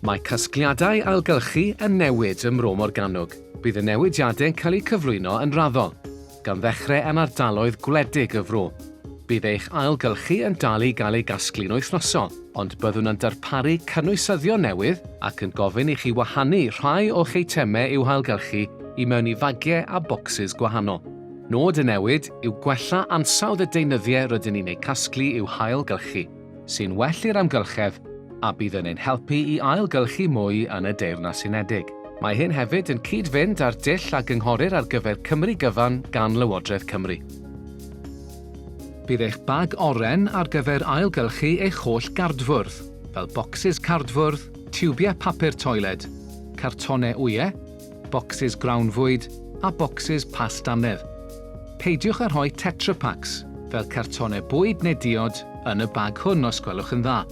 Mae casgliadau ailgylchu yn newid ym Mro Morgannwg. Bydd y newidiadau'n cael eu cyflwyno yn raddol, gan ddechrau yn ardaloedd gwledig y fro. Bydd eich ailgylchu yn dal i gael ei gasglu'n wythnosol, ond byddwn yn darparu cynwysyddion newydd ac yn gofyn i chi wahanu rhai o'ch eitemau i'w hailgylchu i mewn i fagiau a bocsys gwahanol. Nod y newid yw gwella ansawdd y deunyddiau rydyn ni'n eu casglu i'w hail-gylchu, sy'n well i'r amgylchedd a bydd yn ein helpu i ail-gylchu mwy yn y Deyrnas Unedig. Mae hyn hefyd yn cyd-fynd â'r dull a gynghorir ar gyfer Cymru Gyfan gan Lywodraeth Cymru. Bydd eich bag oren ar gyfer ail-gylchu eich holl gardfwrdd, fel bocsys cardfwrdd, tiwbiau papur toiled, cartonau wyau, bocsys grawnfwyd a bocsys past annedd. Peidiwch â rhoi Tetra Paks, fel cartonau bwyd neu diod, yn y bag hwn os gwelwch yn dda.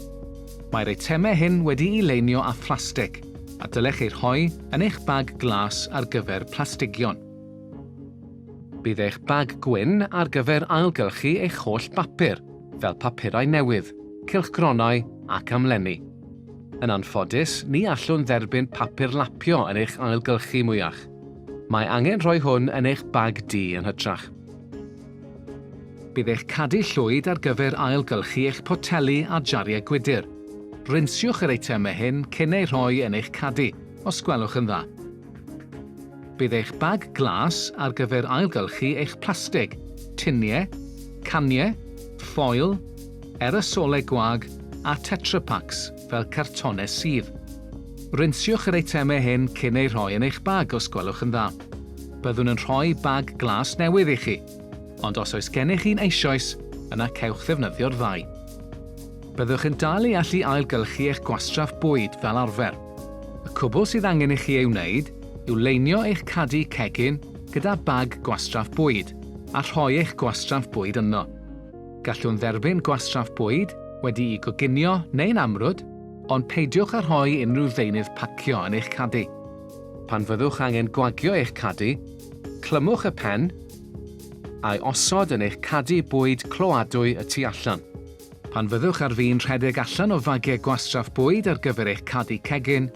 Mae'r eitemau hyn wedi'i leinio â phlastig, a dylech eu rhoi yn eich bag glas ar gyfer plastigion. Bydd eich bag gwyn ar gyfer ailgylchu eich holl bapur, fel papurau newydd, cylchgronau ac amlenni. Yn anffodus, ni allwn dderbyn papur lapio yn eich ailgylchu mwyach. Mae angen rhoi hwn yn eich bag du yn hytrach. Bydd eich cadu llwyd ar gyfer ailgylchu eich poteli a jariau gwydr. Rinsiwch yr eitemau hyn cyn eu rhoi yn eich cadu, os gwelwch yn dda. Bydd eich bag glas ar gyfer ailgylchu eich plastig, tuniau, caniau, ffoil, erosolau gwag a Tetra Paks fel cartonau sudd. Rinsiwch yr eitemau hyn cyn eu rhoi yn eich bag os gwelwch yn dda. Byddwn yn rhoi bag glas newydd i chi, ond os oes gennych un eisoes, yna cewch ddefnyddio'r ddau. Byddwch yn dal i allu ailgylchu eich gwastraff bwyd fel arfer. Y cwbl sydd angen i chi ei wneud yw leinio eich cadi cegin gyda bag gwastraff bwyd a rhoi eich gwastraff bwyd ynddo. Gallwn dderbyn gwastraff bwyd wedi'i goginio neu'n amrwd, ond peidiwch â rhoi unrhyw ddeunydd pacio yn eich cadi. Pan fyddwch angen gwagio eich cadi, clymwch y pen a'i osod yn eich cadi bwyd cloadwy y tu allan. Pan fyddwch ar fin rhedeg allan o fagiau gwastraff bwyd ar gyfer eich cadi cegin,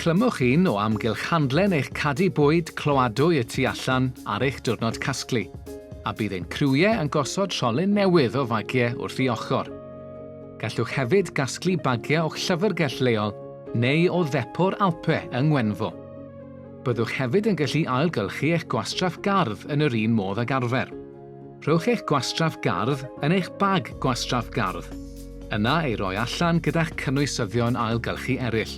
clymwch un o amgylch handlen eich cadi bwyd cloadwy y tu allan ar eich diwrnod casglu, a bydd ein criwiau yn gosod rholyn newydd o fagiau wrth ei ochr. Gallwch hefyd gasglu bagiau o'ch llyfrgell leol neu o ddepo'r Alpe yng Ngwenfro. Byddwch hefyd yn gallu ailgylchu eich gwastraff gardd yn yr un modd ag arfer. Rhowch eich gwastraff gardd yn eich bag gwastraff gardd, yna ei roi allan gyda'ch cynwysyddion ailgylchu eraill.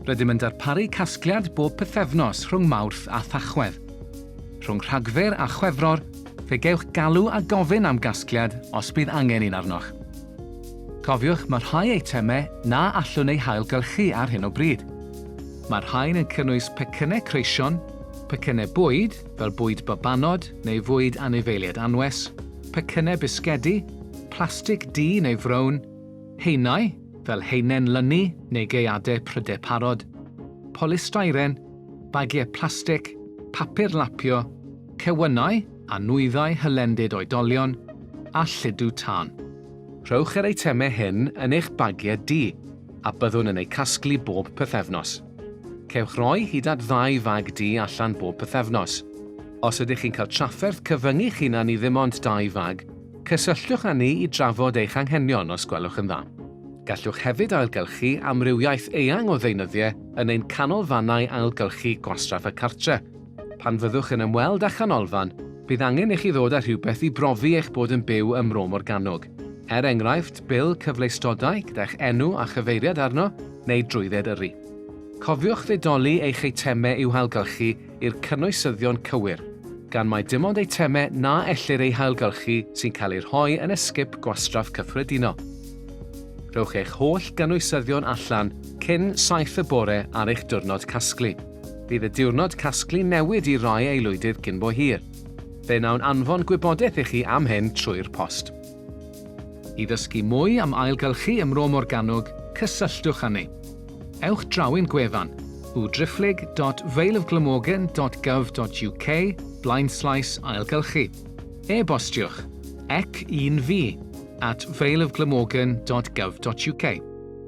Rydym yn darparu casgliad bob pythefnos rhwng Mawrth a Thachwedd. Rhwng Rhagfyr a Chwefror, fe gewch galw a gofyn am gasgliad os bydd angen un arnoch. Cofiwch, mae rhai eitemau na allwn eu hailgylchu ar hyn o bryd. Mae rhain yn cynnwys pecynnau creision, pecynnau bwyd, fel bwyd babanod neu fwyd anifeiliaid anwes, pecynnau bisgedi, plastig du neu frown, haenau, fel haenen lynu neu gaeadau prydau parod, polystyren, bagiau plastig, papur lapio, cewynnau a nwyddau hylendid oedolion, a lludw tân. Rhowch yr eitemau hyn yn eich bagiau du a byddwn yn eu casglu bob pythefnos. Cewch roi hyd at ddau fag du allan bob pythefnos. Os ydych chi'n cael trafferth cyfyngu'ch hunan i ddim ond dau fag, cysylltwch â ni i drafod eich anghenion os gwelwch yn dda. Gallwch hefyd ailgylchu amrywiaeth eang o ddeunyddiau yn ein canolfannau ailgylchu gwastraff y cartre'. Pan fyddwch yn ymweld â chanolfan, bydd angen i chi ddod â rhywbeth i brofi eich bod yn byw ym Mro Morgannwg. Er enghraifft, bil cyfleustodau gyda'ch enw a chyfeiriad arno, neu drwydded yrru. Cofiwch ddedoli eich eitemau i'w hailgylchu i'r cynwysyddion cywir, gan mai dim ond eitemau na ellir eu hailgylchu sy'n cael eu rhoi yn esgip gwastraff cyffredinol. Rhowch eich holl gynwysyddion allan cyn saith y bore ar eich diwrnod casglu. Bydd y diwrnod casglu newid i rai aelwydydd cyn bo hir. Fe wnawn anfon gwybodaeth i chi am hyn trwy'r post. I ddysgu mwy am ailgylchu ym Mro Morgannwg, cysylltwch â ni. Ewch draw i'n gwefan, www.valeofglamorgan.gov.uk, blaenslaes ailgylchu. E-bostiwch, ec un fi, at valeofglamorgan.gov.uk.